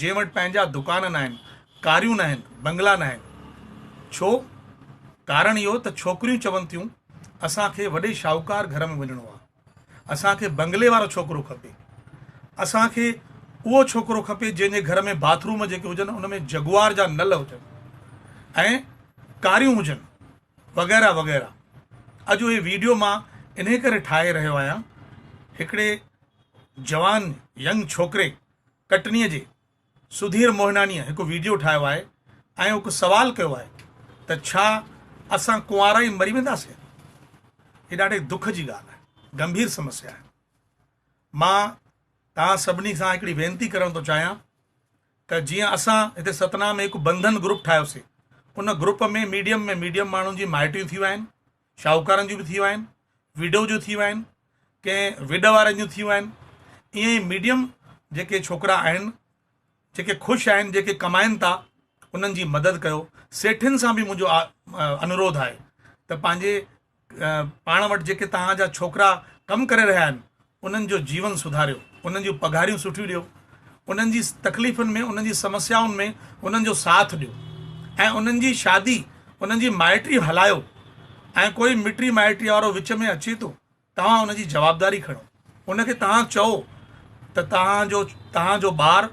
جنهن وٽ پنهنجا دڪان ناهن، ڪاريون ناهن، بنگلا ناهن. ڇو؟ ڪارڻ اهو ته ڇوڪريون چون ٿيون اسان کي وڏي شاهوڪار گهر ۾ وڃڻو آهي، اسان کي بنگلي وارو ڇوڪرو کپي، اسان کي اهو ڇوڪرو کپي جنهن جي گهر ۾ باٿ روم جيڪي هجن ان ۾ جگوار جا نل هجن ۽ ڪاريون هجن وغيره وغيره. اڄ اهي ويڊيو مان انهي ڪري ٺاهي رهيو آهيان هڪڙي جوان ينگ ڇوڪري ڪٽنيء جي سڌير موهناڻيء هڪ ويڊيو ٺاهيو آهي ۽ هڪ سوال ڪيو آهي ته ڇا اسان ڪنوارا ئي مري وينداسين؟ هي ڏاڍي دک جي ڳالهه آهي، گنڀير سمسيا آهي. مان توهان سڀني سان هڪڙي وينتي ڪرڻ ٿو چاهيان ته جيئن اسان هتي ستنا ۾ هڪ بنڌن گروپ ٺاهيوسي، ان گروپ ۾ ميڊيم ۾ ميڊيم ماڻهن جي مائٽيون ٿيون آهن، شاهوڪارن جون به ٿيون آهن، ويڊو جون ٿيون آهن، ڪنهن ويڊ وارن جون ٿيون آهن، ائين ئي ميڊيم جيڪي ڇوڪرا آهن، جيڪي خوش آهن، جيڪي ڪمائن ٿا، انهن جي مدد ڪيو، سيٺين سان به منهنجو انورود آهي ته پنهنجي پاڻ وٽ جيڪي توهان جا ڇوڪرا ڪم ڪري رهيا آهن، انهن جو جيون سڌاريو، انهن جون پگهاريون سٺيون ڏيو، انهن جي تڪليفن ۾ انهن جي سمسيائن ۾ انهن جو ساٿ ڏيو ۽ انهن جي شادي انهن جي مائٽري هلايو ۽ ڪوئي مٽري مائٽري وارو وچ ۾ اچي ٿو توهان ان جي جوابداري کڻو ان کي توهان چئو ته توهان جو توهان جو ٻار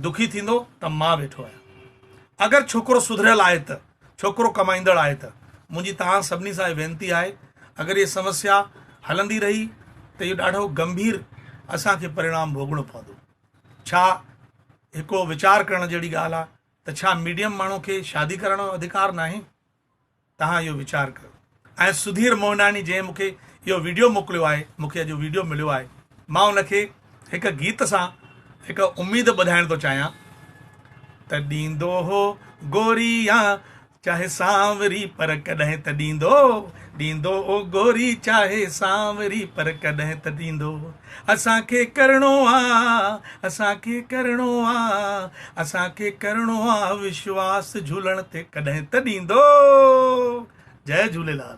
دکي ٿيندو ته مان ويٺو آهيان اگر ڇوڪرو سڌريل آهي ته ڇوڪرو ڪمائيندڙ آهي ته منهنجي توهان سڀني سان اهي وينتي آهي اگر هي سمسيا هلندي رهي ته اهو ڏاڍو گنڀير اسان کي پريڻام ڀوڳڻو پوندو ڇا هڪڙو ويچار ڪرڻ جهڙي ڳالهه آهي ته ڇا ميڊيم ماڻهو کي شادي ڪرڻ جو اڌڪار ناهي توهان اهو ويچار ڪيو ۽ سڌير موهناڻي جنهن مونکي اهو ويڊيو موڪليو آهي مونکي اڄ اهو ويڊيو مليو آهي مان ان کي هڪ گيت سان هڪ اميد ٻڌائڻ ٿو چاهيان ته ڏيندو هو گوري يا چاهي سانوري پر ڪڏهن ته ڏيندو ڏيندو او گوري چاهي سانوري پر ڪڏهن ته ڏيندو اسان کي ڪرڻو آ اسان کي ڪرڻو آ اسان کي ڪرڻو آ وشواس جھولڻ تي ڪڏھن ته ڏيندو جئي جھوليلال.